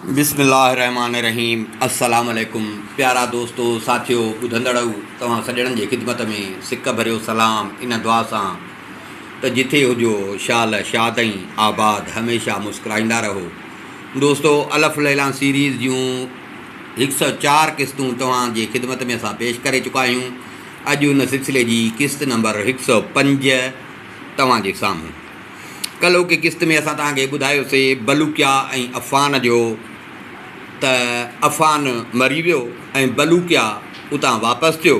بسم الله الرحمٰن الرحيم السلام عليڪم پيارا دوستو ساٿيو ٻڌندڙئو توهان سڄڻن جي خدمت ۾ سڪ ڀريو سلام ان دعا سان ته جٿي هجو شال شاد ۽ آباد هميشه مسڪرائيندا رهو دوستو الف ليلان سيريز جون هڪ سؤ چار قسطون توهان جي خدمت ۾ اسان پيش ڪري چڪا آهيون اڄ ان سلسلي جي قسط نمبر هڪ سؤ پنج توهان جي سامهون ڪلهوڪي قسط ۾ اسان توهان کي ٻڌايوسي بلوڪيا ۽ عفان جو ته عفان مري ويو ۽ بلوڪيا اتان واپس ٿيو.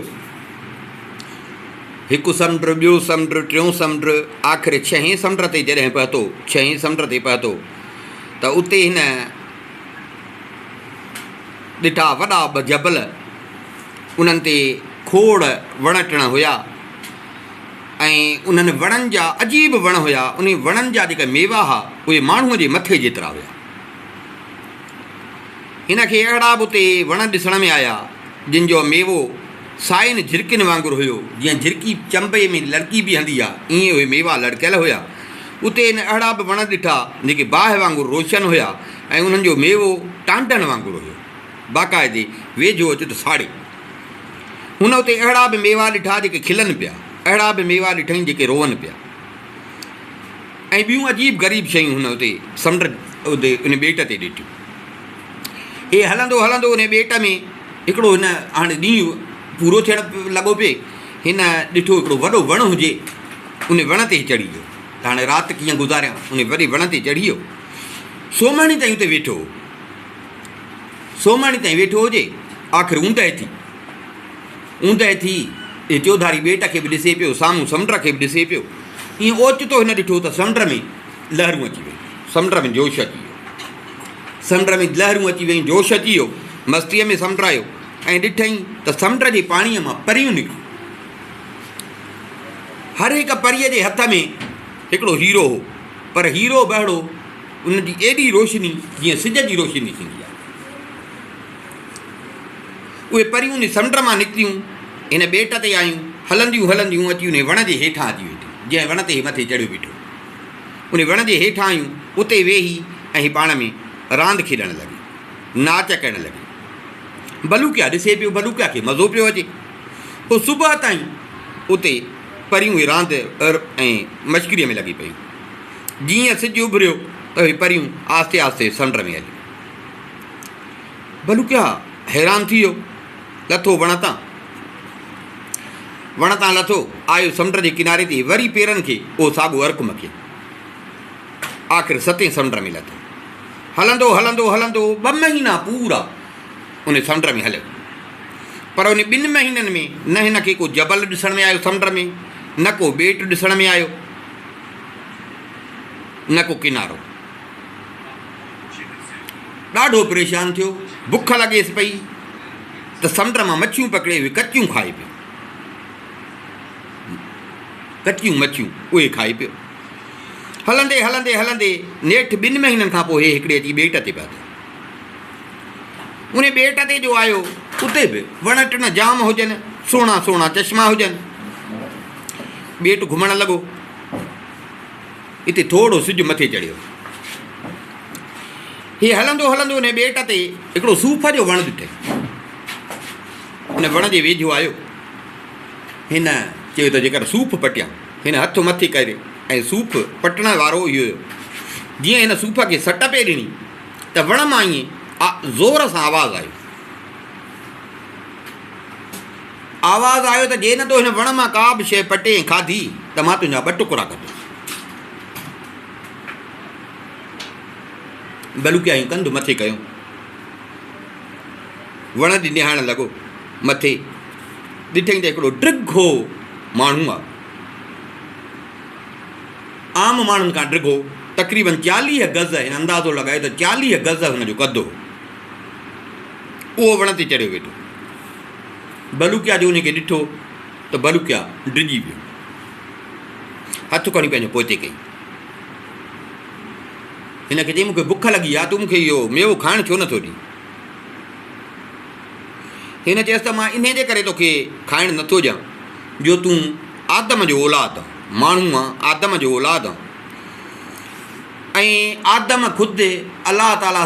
هڪ سمنڊ، ٻيو سمنڊ، ٽيون سمنڊ، آخر ڇهين سمنڊ تي جڏهن پهتو، ڇهين سمنڊ تي پهتو ته اتي هن ڏٺا وڏا ٻه جبل، انهن تي کوڙ وڻ ٽڻ هيا. ۽ انهن وڻن جا عجيب وڻ هيا، انهي وڻن جا جيڪا ميوا ها اهي ماڻهوء جي مٿي جيترا هيا. هن کي اهڙا به اتي وڻ ڏسڻ ۾ آيا جن جو ميوو سائين جهرڪين وانگر هيو، جيئن جهرڪي چنبي ۾ لڙڪي بيهندي آ ايئن اهي ميوا لڙڪيل هيا. اتي هن اهڙا به وڻ ڏٺا جيڪي باهه وانگر روشن هيا ۽ انهن جو ميوو ٽانڊن وانگر هيو. باقاعدي ويجهو اچ ته ساڙي. هن اتي اهڙا به ميوا ڏٺا جيڪي کلن پيا، اهڙا به ميوا ڏٺائين جيڪي روئن پيا ۽ ٻيون عجيب غريب شيون هن اتي سمنڊ اتي ان ٻيٽ تي ڏٺيون. هي هلندو هلندو ان ٻيٽ ۾ هڪڙو هن هاڻي ڏينهن پورو ٿيڻ لڳو پئي هن ڏٺو هڪڙو وڏو وڻ هجي ان وڻ تي چڙهي ويو هاڻي رات ڪيئن گذاريان ان وڏي وڻ تي چڙهي ويو سومهڻي تائين اتي ويٺو هو. سومهڻي تائين ويٺو هجي، آخر اوندهه ٿي. اوندهه ٿي هي چوڌاري ٻيٽ کي به ڏسي پيو، سامهون سمنڊ کي به ڏسي پيو. ايئن اوچتو هن ڏٺو ته سمنڊ ۾ لهرون اچي ويون، سمنڊ ۾ جوش اچي ويو. سمنڊ ۾ لهرون اچي ويون، جوش اچي ويو، مستيء ۾ سمنڊ آيو ۽ ڏٺئي ته سمنڊ جي پاڻيء مان پريون نڪتيون. هر هڪ پريء جي هٿ ۾ هڪڙو هيرو هو، پر هيرو به اهڙو، ان جي ايڏي روشني جيئن سج جي روشني ٿيندي آهي. اهي پريون ان سمنڊ مان نڪتيون، هن ٻيٽ تي آيون، هلنديون هلنديون اچي انهي وڻ جي هيٺان اچي ويٺيون، جنهن وڻ تي هي مٿي چڙهيو بيٺو هو. انهي وڻ جي هيٺان آيون، اتي ويهي ۽ هي پاڻ ۾ راند کيڏڻ لڳيون، ناچ ڪرڻ لڳيون. ڀلوڪيا ڏسي پيو، ڀلوڪيا کي مزو پيو اچي. هو صبح تائين اتي پريون اهي راند ۽ مشڪريء ۾ لڳي پيون. جيئن سج اڀريو ته اهي پريون آهستي آهستي سمنڊ ۾ هليون. ڀلوڪيا حيران ٿي ويو. لٿو وڻ تان. وڻ تان لٿو، آيو سمنڊ جي ڪناري تي وري پيرن کي اهو ساڳو ارڪ مکيو. آخر ستين سمنڊ ۾ لٿو. هلندو هلندو هلندو ٻه مهينا پورا ان سمنڊ ۾ هليو. پر ان ٻن مهينن ۾ نه هن کي ڪو جبل ڏسڻ ۾ آيو سمنڊ ۾ نه ڪو ٻيٽ ڏسڻ ۾ آيو. نه ڪو ڪنارو. ڏاڍو پريشان ٿيو، بک لڳيس پئي ته سمنڊ مان مڇيون پڪڙي اهي ڪچيون کائي پيو. ڪچيون مڇيون اهي کائي پيو. هلندي هلندي هلندي نيٺ ٻن مهينن کان پوء هي هڪڙي اچي ٻيٽ تي پهتو. ان ٻيٽ تي جو آيو اتي به وڻ ٽڻ جام هجن سهڻا سهڻا چشما هجن ٻيٽ گهمڻ لڳو. اتي ٿورڙو سج مٿي چڙهيو. هي هلندو هلندو انهي ٻيٽ تي هڪڙو صوف جو وڻ ڏٺئي. ان وڻ جي ويجهو آيو. هن چيو ته جيڪر صوف پٽيان. هن هٿ مٿي ڪري ۽ صوف پٽڻ وارو اهو هيو. جيئن هن صوف کي سٽ پئي ڏني ته وڻ مان ائين زور سان آواز آيو. آواز آيو ته جي نه تو هن وڻ مان ڪا به شيء پٽي ۽ کاڌي ته مان تنهنجا ٻه ٽڪرا ڪندس. بلوڪيائين ڪنڌ مٿي ڪيو. وڻ ڏي نهائڻ لڳو. مٿي ڏٺئين ته هڪڙو ڊگهو ماڻهو آ. عام ماڻهن کان ڊگهو. تقريبن چاليهه گز هن اندازو لڳايو ته چاليهه گز هن جو قد هو. اهو وڻ تي چڙهيو ويٺو. بلوڪيا جو ان کي ڏٺو ته بلوڪيا ڊڄي ويو. هٿ کڻي پنهنجو پوئتي ڪئي. هن کي چيائين، مون کي بک لڳي آهي، تون مون کي اهو ميوو کائڻ ڇو نٿو ڏين؟ هن چيس ته مان انهي جي ڪري تو کي کائڻ نٿو ڏيان جو تون آدم جو اولاد آن، ماڻهو آن، آدم جو اولاد آن ۽ آدم خود الله تعاليٰ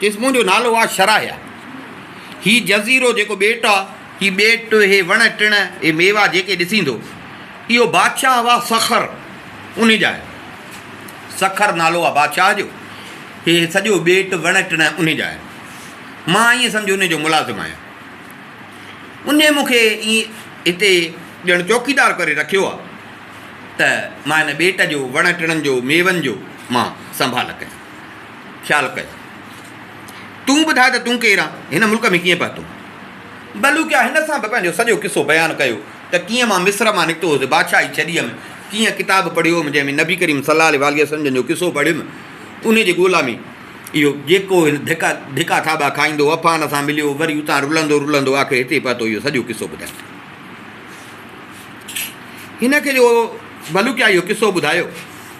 قسمن جو نالو آ شراهيا. هي جزيرو جيڪو ٻيٽ آ، هي ٻيٽ، هي وڻ ٽڻ، هي ميوا جيڪي ڏسيندو، اهو بادشاهه هئا سخر انهي جا آهن. سخر نالو آ بادشاهه جو. هي سڄو ٻيٽ، وڻ ٽڻ انهي جا آهن. مان ائين سمجهو انهي جو ملازم آهيان. انهي مون کي ائين هتي ڄڻ چوڪيدار ڪري رکيو آ ته مان هن ٻيٽ جو، وڻ ٽڻن جو، ميون جو مان سنڀال ڪيان. خيال ڪر. تون ٻڌاء ته تون ڪير آن هن ملڪ ۾ ڪيئن پهتو؟ بلوڪيا هن سان به پنهنجو سڄو قصو بيان ڪيو ته ڪيئن مان مصر مان نڪتو هوس، بادشاهي ڇڏي هيم، ڪيئن ڪتاب پڙهيو هوم جنهن ۾ نبي ڪريم صلي الله عليه وسلم جن جو قصو پڙهيم، انهي جي ڳولا ۾ اهو جيڪو هن ڌڪا ڌڪا ٿاٻا کائيندو عفان سان مليو، وري اتان رلندو رلندو آخر هتي پهتو اهو سڄو قصو ٻڌايائين. هن کي جو بلوڪيا اهو قصو ٻڌايو.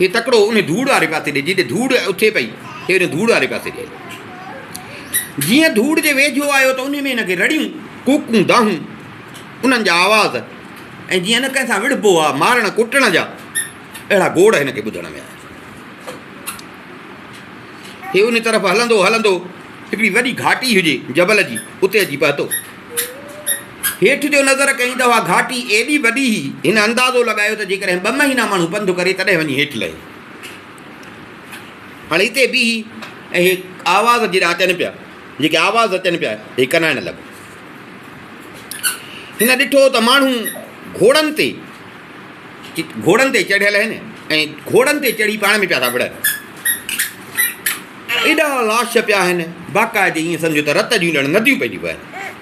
هي تڪڙو ان ڌوڙ واري پاسي ڏي جتي ڌوڙ اٿي پئي، هي ان ڌوڙ واري پاسي ڏي هليو. جيئن ڌوڙ جي ويجهو آيو ته انهي ۾ هن کي رڙيون، ڪوڪون، دانهون، انهن جا آواز ۽ جيئن نه ڪنهن سان وڙهبو آ، مارڻ ڪٽڻ جا اهڙا گوڙ هن کي ٻڌڻ ۾ آيا. هي ان طرف هلندو هلندو هڪڙي وڏي گهاٽي هجي جبل جي، اتي اچي پهتو. هيٺ جو نظر ڪيائين ته اها گهاٽي ايڏي وڏي هئي، هن اندازو لڳايو ته جيڪڏهن ٻه مهينا ماڻهو پنڌ ڪري تڏهن وڃي هيٺ لهي. هاڻي هتي بيهي ۽ هي آواز جيڏا اچن پيا، جيڪي آواز اچن پيا، هي ڪنائڻ لڳو. هن ڏٺو ته ماڻهو گهوڙن تي گهوڙن تي چڙهيل آهن ۽ گهوڙن تي چڙهي پاڻ ۾ پيا ٿا وڙهن. ايڏا لاش پيا آهن، باقاعدي ائين سمجهو ته رت جون ڄڻ نديون پئي ٿيون وهن.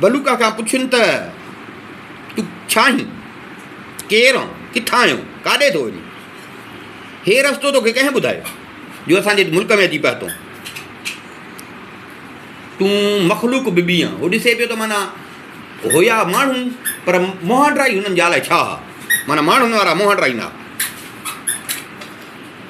بلوڪ کان پڇين ته تون ڇا آهين؟ ڪير آهن؟ ڪٿان آيو؟ ڪاڏي ٿو وڃين؟ هي رستو توکي ڪنهن ٻڌايو جو اسان جي ملڪ ۾ اچي پهتو آهين؟ تون مخلوق ببي آهين هو ڏسي پيو ته معنيٰ هيا ماڻهو پر موهانڊرائي هنن جي آلاء ڇا هئا معنيٰ ماڻهن وارا موهانڊرائي نه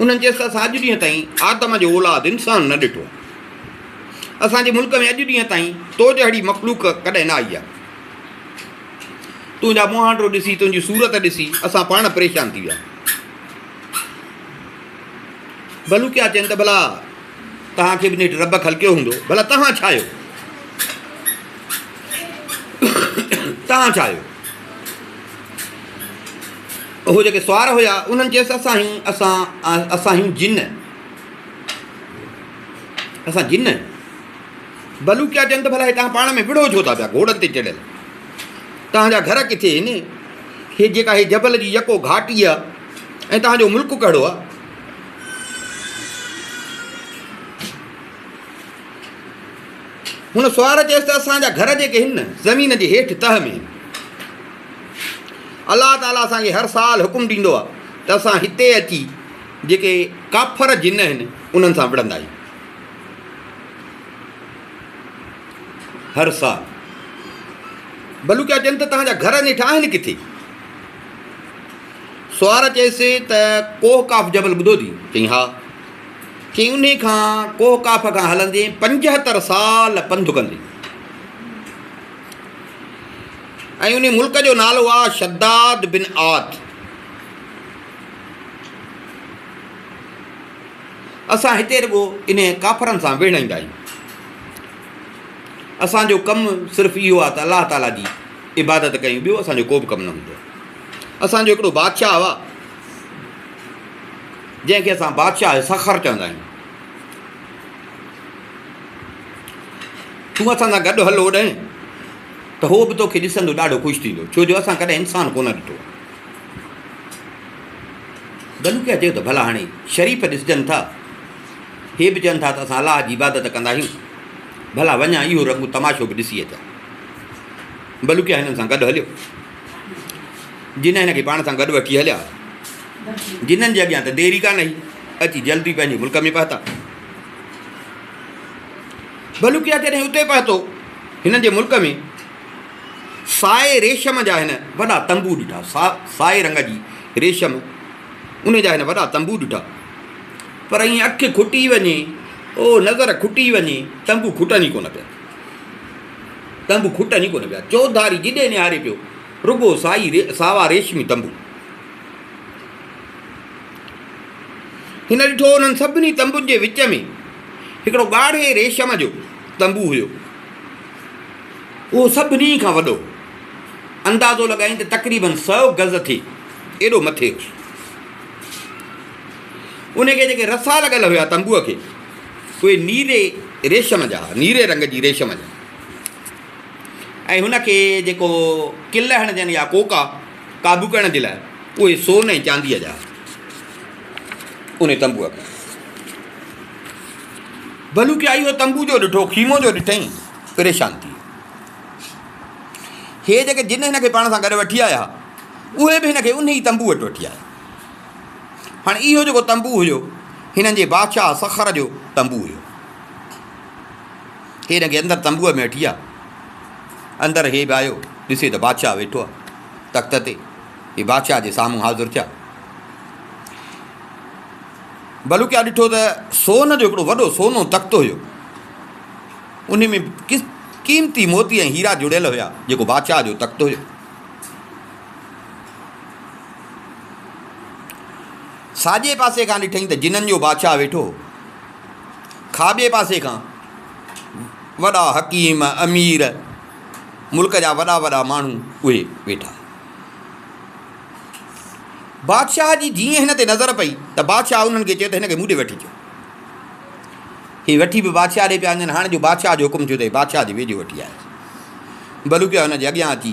انهن چيس ته اسان اڄ ڏينهن تائين آدم جو اولاد انسان نه ڏٺو آهي. اسان جي ملڪ ۾ اڄ ڏينهن تائين تو جهڙي مخلوق ڪڏهن نه آئي آهي. تنهنجا مهانڊو ڏسي، تنهنجي صورت ڏسي اسان پاڻ پريشان ٿي ويا. ڀلوڪيا چين ته ڀلا توهان کي به نيٺ رب خلقيو هوندو، ڀلا توهان ڇا آهيو؟ توهان ڇا آهيو؟ اهي جيڪي سوار هيا، انهن چيس، اسان آهيون، اسان، اسان آهيون جن، اسان جن. بلو ڪيا چن ته ڀلا هي توهان پاڻ ۾ وڙهو ڇو ٿا پيا گهوڙن تي چڙهيل؟ توهان جا گهر ڪٿي آهن؟ هي جيڪا هي جبل جي يڪو گهاٽي آهي ۽ توهان جو ملڪ ڪهڙو آهي؟ هن سوار چيس ته اسان جا گهر جيڪي هن زمين جي هيٺ تهه ۾ هن. الله تعالي اسان کي هر سال حڪم ڏيندو آهي ته اسان هتي اچي جيڪي ڪافر جن هن انهن سان وڙهندا آهيون. هر سال بلوڪيا چين ته تهانجا گهر نيٺ آهن ڪٿي؟ سوار چيس ته ڪوه ڪاف جبل ٻڌو ٿي؟ چئي ها. چي انهي کان ڪوهه ڪاف کان هلندين پنجهتر سال پنڌ ڪندين ۽ انهي ملڪ جو نالو آ شداد بن عاد اسان هتي رڳو انهي ڪافرن سان ويڙهائيندا آهيون اسان جو ڪم صرف اهو آ ته الله تعالي جي عبادت ڪيون ٻيو اسان جو ڪو به ڪم نه هوندو آ اسان جو هڪڙو بادشاهه هئا جنهن کي اسان بادشاهه سخر چوندا آهيون. تون اسان سان گڏ هل هوڏانهن ته هو به توکي ڏسندو ڏاڍو خوش ٿيندو ڇو جو اسان ڪڏهن انسان ڪونه ڏٺو آهي. دلوڪيا چيو ته ڀلا هاڻي شريف ڏسجن ٿا هي به چون ٿا ته اسان الله جي عبادت ڪندا آهيون ڀلا وڃان اهو رنگون تماشو به ڏسي اچان. بلوڪيا هنن سان گڏ هليو. جن هن کي پاڻ سان گڏ وٺي هليا. جنن جي اڳيان ته دير ئي ڪانه هئي، اچي جلدي پنهنجي ملڪ ۾ پهتا. ڀلوڪيا جڏهن اتي پهتو، هنن جي ملڪ ۾ سائي ريشم جا هن وڏا تنبو ڏٺا، سائي رنگ جي ريشم، ان جا هن وڏا تنبو ڏٺا. پر ائين اک کٽي وڃي، او نظر کٽي وڃي، تنبو کٽن ئي ڪونه پيا. تنبو کٽن ئي ڪونه پيا. چوڌاري جيڏي نهاري پيو، رڳو سائي ساوا ريشمي تنبو. هن ڏٺو انهن سڀني تنبن جي وچ ۾ هڪڙو ڳاڙهي ريشم جو تنبو هيو. اهو سڀني کان وڏو هو. اندازو لڳائين ته تقريبن سؤ گز ٿئي ايڏو مٿي هو. ان کي جيڪي رسا لڳل هيا تنبوء کي، اهي نيري ريشم جا، نيري رنگ جي ريشم جا، ۽ هن کي جيڪو ڪل هڻجن يا ڪوڪا قابو ڪرڻ جي لاء اهي سون ۽ چانديء جا، ان تنبوء کي. ڀلوڪي آئي اهو تنبو جو ڏٺو، خيمو جو ڏٺئي، پريشان ٿي ويو. هي جيڪي جن هن کي پاڻ سان گڏ وٺي آيا، اهي به هن کي انهي تنبوء وٽ وٺي آيا. هاڻي اهو جيڪو تنبو هيو هنن جي بادشاهه سخر جو تنبو هيو هي هن کي اندر تنبوء ۾ وٺي آيا اندر هي به آيو ڏسي ته بادشاهه ويٺو آهي تخت تي هي بادشاهه جي سامهون حاضر ٿيا بلوڪيا ڏٺو ته سون جو هڪڙو وڏو سونو تخت هيو ان ۾ قيمتي موتي ۽ هيرا جڙيل هيا جيڪو بادشاهه جو تخت هيو ساڄي پاسي کان ڏٺئي ته جنن جو بادشاهه ويٺو هو. کاٻي پاسي کان وڏا حڪيم، امير، ملڪ جا وڏا وڏا ماڻهو اهي ويٺا. بادشاهه جي جيئن هن تي نظر پئي ته بادشاهه انهن کي چيو ته هن کي مون ڏي وٺي اچو. هي وٺي به بادشاهه ڏي پيا وڃن. هاڻي جو بادشاهه جو حڪم ٿيو اٿئي بادشاهه جي ويجهو وٺي آيس. بلو پيا هن جي اڳيان اچي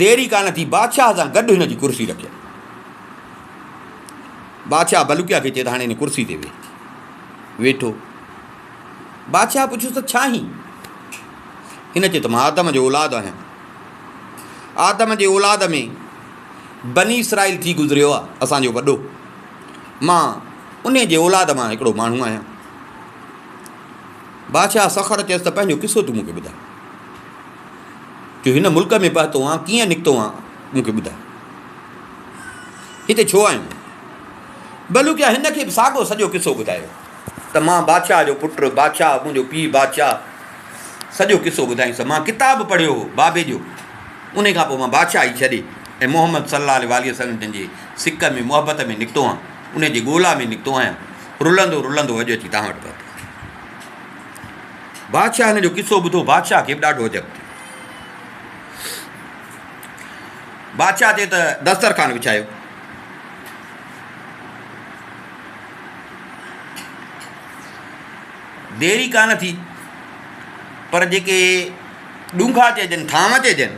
دير ئي ڪانه ٿي بادشاهه سان گڏ هن جي ڪرسي رکيائين. بادشاهه بلقيا کي چئي ته هاڻي هن ڪرسي تي ويهه. ويٺو. بادشاهه پڇيس ته ڇا هين؟ هن چيو ته مان آدم جو اولاد آهيان. آدم جي اولاد ۾ بني اسرائيل ٿي گذريو آهي اسان جو وڏو. مان ان جي اولاد مان هڪڙو ماڻهو آهيان. بادشاهه سخر چيس ته پنهنجو قصو تون مون کي ٻڌاء. جو هن ملڪ ۾ پهتو آهان، ڪيئن نڪتو آهان، مون کي ٻڌاء. هتي ڇو آيون؟ بلوڪيا هن کي به ساڳو سڄو قصو ٻڌايو ته مان بادشاهه جو پٽ، بادشاهه، منهنجو پيء بادشاهه، سڄو قصو ٻڌايس. مان ڪتاب پڙهيو هو بابي جو، انهي کان پوء مان بادشاهي ڇڏي ۽ محمد صلي الله عليه واٰله وسلم جن جي سڪ ۾ محبت ۾ نڪتو آهان، انهي جي ڳولا ۾ نڪتو آهيان، رلندو رلندو اڄ اچي توهان وٽ پهتو آهيان. بادشاهه هن جو قصو ٻڌو، بادشاهه کي به ڏاڍو عجب ٿيو. بادشاهه چي ته دسترخوان وڇايو. دير ئي ڪانه ٿي پر جيڪي ڏونگا چئجن ٿانء چئجن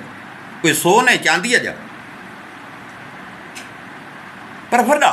اهي سون ۽ چانديء جا پر وڏا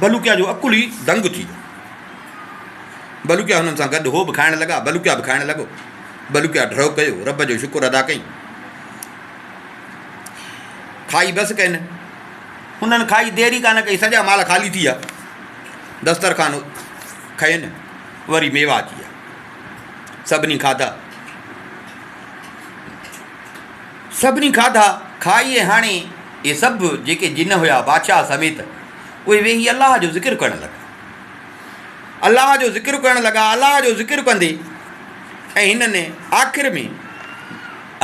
بلوڪيا جو عقل ئي دنگ ٿي ويو. بلوڪيا هنن سان گڏ هو به کائڻ لڳا. بلوڪيا به کائڻ لڳو. بلوڪيا ڍؤ ڪيو، رب جو شڪر ادا ڪيائين. کائي بس ڪين. هنن کائي دير ئي ڪانه ڪئي، سڄا مال خالي ٿي ويا. دسترخوان کين وري ميوا اچي ويا. سڀني کاڌا. سڀني کاڌا کائي ۽ هاڻي اهي سڀ جيڪي جن هيا بادشاهه سميت اهي ويهي الله جو ذڪر ڪرڻ لڳا. الله جو ذڪر ڪرڻ لڳا الله جو ذڪر ڪندي ۽ هنن آخر ۾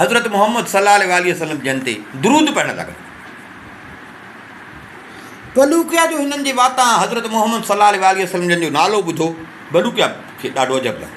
حضرت محمد صلي الله عليه وسلم جن تي درود پڙهڻ لڳا. بلوڪيا جو هنن جي واتان حضرت محمد صلي الله عليه وسلم جن جو نالو ٻڌو بلوڪيا کي ڏاڍو عجب لڳو.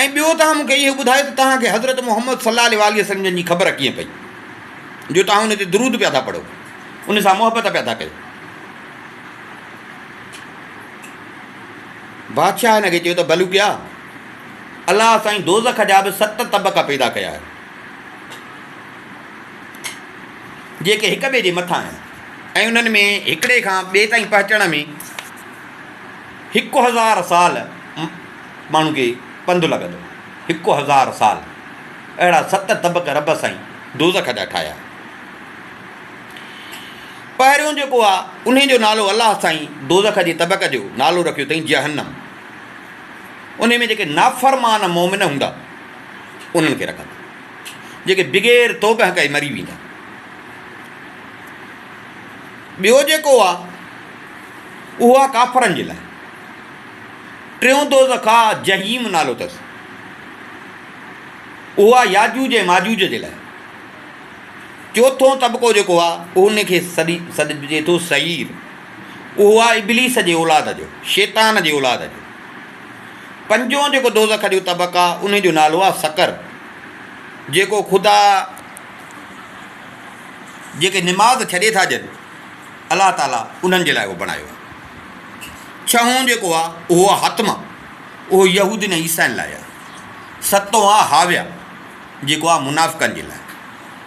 ۽ ٻيو توهان مون کي اهو ٻڌايو ته توهان کي حضرت محمد صلّي عليه واٰله وسلّم جن جي خبر ڪيئن پئي جو توهان ان تي درود پيا ٿا پڙهو، ان سان محبت پيا ٿا ڪيو؟ بادشاهه هن کي چيو ته بلوڪيا! الله سائين دوزخ جا به ست طبقا پيدا ڪيا آهن، جيڪي هڪ ٻئي جي مٿان آهن ۽ انهن ۾ هڪڙي کان ٻئي تائين پهچڻ ۾ هڪ هزار سال ماڻهن کي پنڌ لڳندو هڪ هزار سال اهڙا ست طبق رب سائين دوزخ جا ٺاهيا پهريون جيڪو آ انهي جو نالو الله سائين دوزخ جي طبق جو نالو رکيو اٿئين جهنم انهي ۾ جيڪي نافرمان مومن هوندا انهن کي رکندا جيڪي بغير توبه ڪئي مري ويندا ٻيو جيڪو آ اهو آ ڪافرن جي لاء ٽيون دوزخ آهي، جحيم نالو اٿس. اهو آهي ياجوج ۽ ماجوج جي لاء. چوٿون طبقو جيڪو آهي، ان کي سڏجي ٿو سعير. اهو آهي ابليس جي اولاد جو، شيطان جي اولاد جو. پنجون جيڪو دوزخ جو طبق آهي، ان جو نالو آهي سقر، جيڪو خدا جيڪي نماز ڇڏي ٿا ڏين. الله تعاليٰ انهن جي لاء اهو بڻايو آهي. ڇهون جيڪو آهي اهو آهي حتمه، اهو يهودين ۽ عيسائين لاء آهي. ستون آهي هاويه، جيڪو آهي منافقن جي لاء.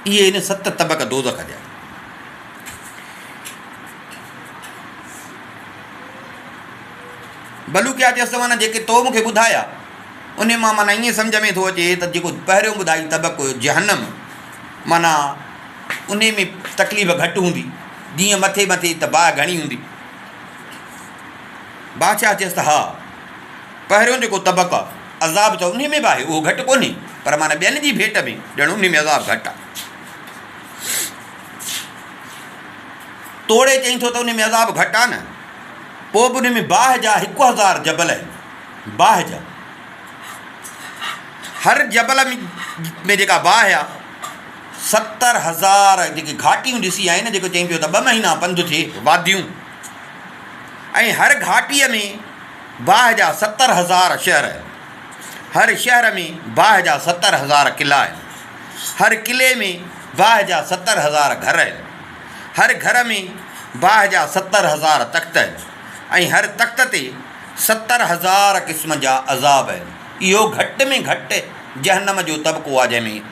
اهي هن ست طبق دوزخ جا. بلو ڪيا چيس ته معنيٰ جيڪي تو مون کي ٻڌايا ان مان معنيٰ ائين سمجهه ۾ ٿو اچي ته جيڪو پهريون ٻڌائي طبق هيو جهنم معنيٰ انهي ۾ تڪليف گهٽ هوندي، جيئن مٿي مٿي ته باهه گهڻي هوندي. بادشاهه چيس ته ها، پهريون جيڪو طبق آ، عذاب ته انهي ۾ به آهي، اهو گهٽ ڪونهي، پر معنيٰ ٻين جي ڀيٽ ۾ ڄڻ انهي ۾ عذاب گهٽ آ. توڙي چئين ٿو ته انهي ۾ عذاب گهٽ آ نه، پوء به انهي ۾ باهه جا هڪ هزار جبل آهن، باهه جا. هر جبل ۾ جيڪا باهه آ، ستر هزار جيڪي گهاٽيون ڏسي آيا آهن جيڪو چئي پيو ته ٻه مهينا پنڌ ٿئي واديون ۽ هر گهاٽيء ۾ باهه جا ستر هزار شهر هر شهر ۾ باهه جا ستر هزار قلعا آهن هر قلعي ۾ باهه جا ستر هزار گهر آهن هر گهر ۾ باهه جا ستر هزار تخت آهن ۽ هر تخت تي ستر هزار قسم جا عذاب آهن اهو گهٽ ۾ گهٽ جهنم جو طبقو آهي جنهن ۾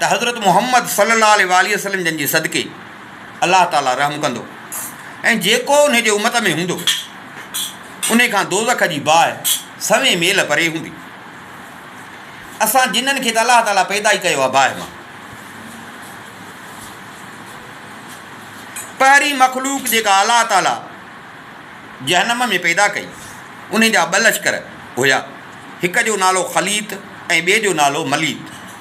ته حضرت محمد صلي الله عليه واٰله وسلم جن جي صدقي الله تعاليٰ رحم ڪندو ۽ جيڪو انهي جي امت ۾ هوندو انهي کان دوزخ جي باهه سوين ميل پري هوندي. اسان جنن کي ته الله تعاليٰ پيدا ئي ڪيو آهي باهه مان. پهرين مخلوق جيڪا الله تعاليٰ جهنم ۾ پيدا ڪئي انهي جا ٻه لشڪر هيا هڪ جو نالو خليط ۽ ٻئي جو نالو مليط.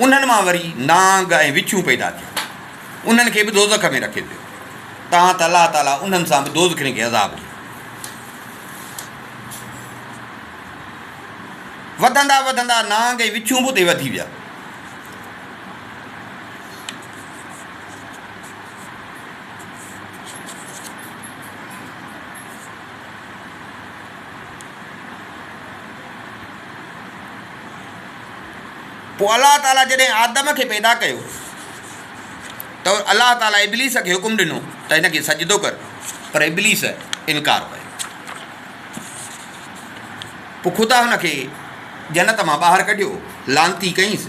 انهن مان وري نانگ ۽ وڇون پيدا ٿيا. انهن کي به دوزخ ۾ رکيو ويو. تاهان ته الله تعاليٰ انهن سان به دوزخين کي عذاب ڏيو. وڌندا وڌندا نانگ ۽ وڇون به اتي وڌي ويا. پوء الله تعاليٰ جڏهن آدم کي پيدا ڪيو ته الله تعاليٰ ابليس کي حڪم ڏنو ته هن کي سجدو ڪر پر ابليس انڪار ڪيو پوء خدا هن کي جنت مان ٻاهر ڪڍيو لانتي ڪئيس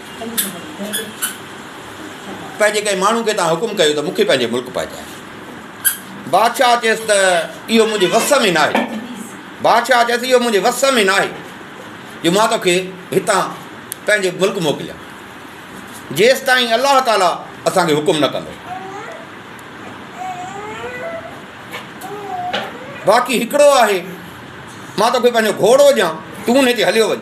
پنهنجي ڪنهن ماڻهو کي تان حڪم ڪيو ته مون کي پنهنجي ملڪ پهچاء بادشاهه چيس ته اهو منهنجي وس ۾ ناهي بادشاهه چيس اهو منهنجي وس ۾ ناهي جو مان توکي هتان پنهنجي ملڪ موڪليان جيس تائين الله تعالی اسانکي حڪم نه ڪندو باقي هڪڙو آهي مان توکي پنهنجو گهوڙو ڏيان تون هن تي هليو وڃ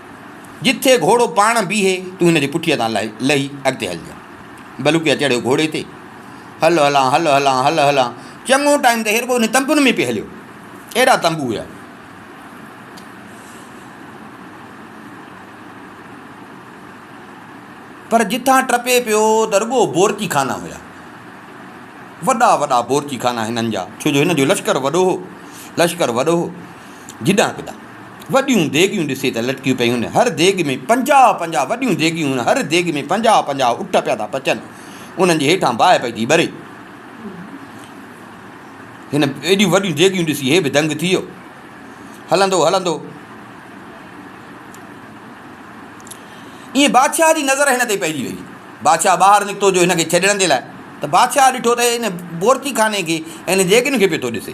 جتي گهوڙو پاڻ بيهي، تون هن جي پٺيء تان لهي اڳتي هلجانء. بلوڪيء چڙهيو گهوڙي تي. هل هلان، هل هلان، هل هلان. چڱو ٽائيم ته هي رڳو انهن تنبن ۾ پئي هليو. اهڙا تنبو هيا. پر جتان ٽپي پيو ته رڳو بورچي خانا هيا. وڏا وڏا بورچي خانا هنن جا، ڇو جو هن جو لشڪر وڏو هو. لشڪر وڏو هو. جيڏانهن ڪيڏانهن وڏيون ديڳيون ڏسي ته لٽڪيون پيون. هر ديڳ ۾ پنجاهه پنجاهه وڏيون ديڳيون هن هر ديڳ ۾ پنجاهه پنجاهه اٺ پيا ٿا پچن. انهن جي هيٺان باهه پئي ٿي ٻري. هن ايڏيون وڏيون ديڳيون ڏسي هي به دنگ ٿي ويو. هلندو هلندو ائين بادشاهه جي نظر هن تي پئجي وئي. بادشاهه ٻاهر نڪتو جو هن کي ڇڏڻ جي لاء ته بادشاهه ڏٺو ته هي هن بورچي خاني کي ۽ هن ديڳين کي پيو ٿو ڏسي.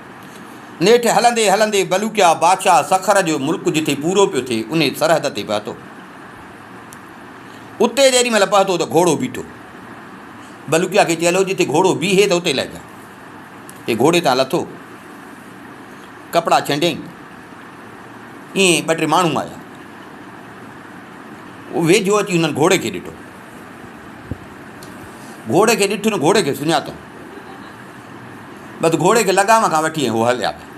نيٺ هلندي هلندي بلوڪيا بادشاهه سکر جو ملڪ جتي پورو پيو ٿئي، انهيء سرحد تي پهتو. اتي جيڏي مهل پهتو ته گهوڙو بيٺو. بلوڪيا کي چيل هو جتي گهوڙو بيهي ته اتي لهجان. هي گهوڙي تان لٿو، ڪپڙا ڇنڊيائين. ائين ٻه ٽي ماڻهو آيا. هو ويجهو اچي هنن گهوڙي کي ڏٺو. گهوڙي کي ڏٺو نه گهوڙي کي سڃاتو. بس گهوڙي کي لگام کان وٺي ۽ هو هليا ويا.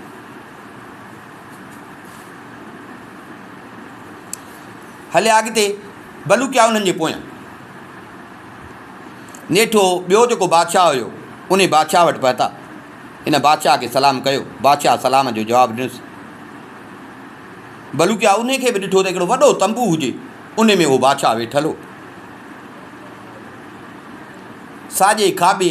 هليا اڳتي، بلوڪيا انهن جي پويان. نيٺو ٻيو جيڪو بادشاهه هيو، انهي بادشاهه وٽ پهتا. هن بادشاهه کي سلام ڪيو. بادشاهه سلام جو جواب ڏنس. بلوڪيا انهي کي به ڏٺو ته هڪڙو وڏو تنبو هجي، انهي ۾ اهو بادشاهه ويٺل هو. ساڄي کاٻي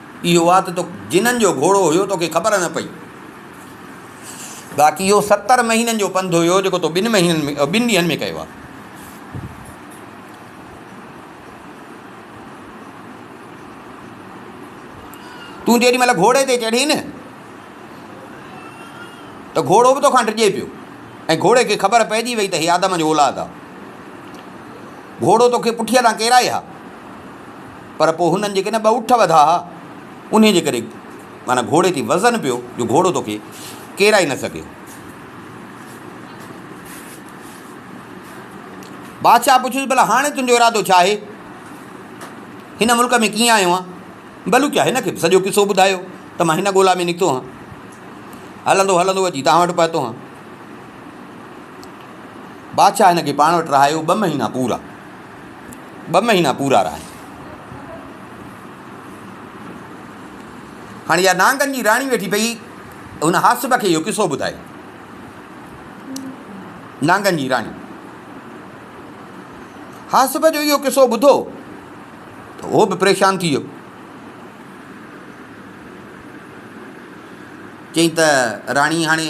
اهو آ ته تو جنن جو گهوڙو هيو توکي خبر نه پئي. باقي اهو ستر مهينن جو پنڌ هيو جيڪو تو ٻن مهينن ۾ ٻن ڏينهن ۾ ڪيو آ. تون جيڏي مهل گهوڙي تي چڙهين نه ته گهوڙو به توکان ڊڄي پيو ۽ گهوڙي کي خبر پئجي وئي ته هي آدم جو اولاد آ. گهوڙو توکي پٺيء تان ڪيرائي ها. پر پوء هنن جيڪي نه ٻه اٺ وڌا ها، انهيء جي ڪري معنيٰ گهوڙي تي وزن پيو جو گهوڙو تو کي ڪيرائي نه سگهيو. بادشاهه پڇيس، ڀلا هاڻي تنهنجو ارادو ڇا آهي؟ هن ملڪ ۾ ڪيئن آيو آهين؟ بلوچ هن کي به سڄو قصو ٻڌايو ته مان هن ڳولا ۾ نڪتو هان. هلندو هلندو اچي توهان وٽ پهتو هان. بادشاهه هن کي پاڻ وٽ رهايو ٻه مهينا پورا. ٻه مهينا پورا رهيا. هاڻي اها نانگن جي راڻي ويٺي پئي هن حاسب کي اهو قصو ٻڌايو. نانگن جي راڻي حاسب جو اهو قصو ٻڌو ته اهو به پريشان ٿي ويو چئي ته راڻي هاڻي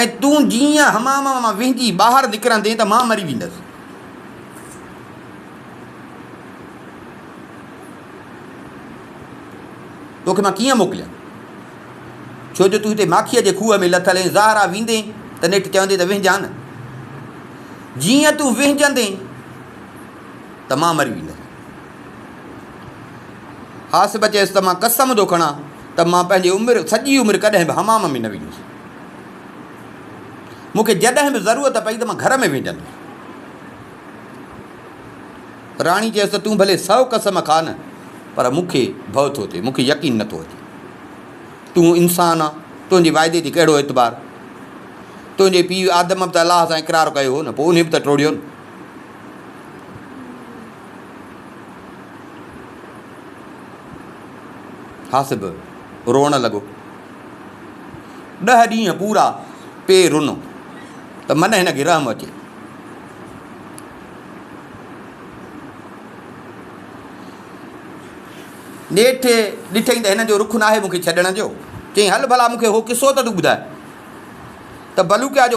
۽ تون جيئن ئي حمام مان وهنجي ٻاهر نڪرندين ته مان مري ويندس. توکي مان ڪيئن موڪليان؟ ڇو جو تون هتي ماکيء جي کوهه ۾ لٿل ۽ زهرا ويندين ته نيٺ چوندين ته وهنجان نه. جيئن تون وهنجندين ته مان مري ويندس. حاسب چيس ته مان قسم ٿو کڻان ته مان پنهنجي عمر سڄي عمر ڪڏهن به حمام ۾ نه ويندس. مون کي جڏهن به ضرورت پئي ته مان گهر ۾ ويندس. راڻي چيس ته تون ڀلي سو قسم کاء نه پر مون کي ڀؤ ٿو ٿئي، مون کي يقين نه ٿو اچي. تون انسان آن، تنهنجي وعدي تي ڪهڙو اعتبار؟ تنهنجي پيء آدم به ته الله سان اقرار ڪيو هو نه، پوء انهي به ته ٽوڙيو نه. حاسب روئڻ لڳو. ڏهه ڏينهن پورا پي رنو ته من هن کي رحم اچي. نيٺ ڏٺئي ته هن جو رخ ناهي مون کي ڇڏڻ جو، چيائين هل ڀلا مون کي اهو قصو ته تون ٻڌاء ته بلوڪيا جو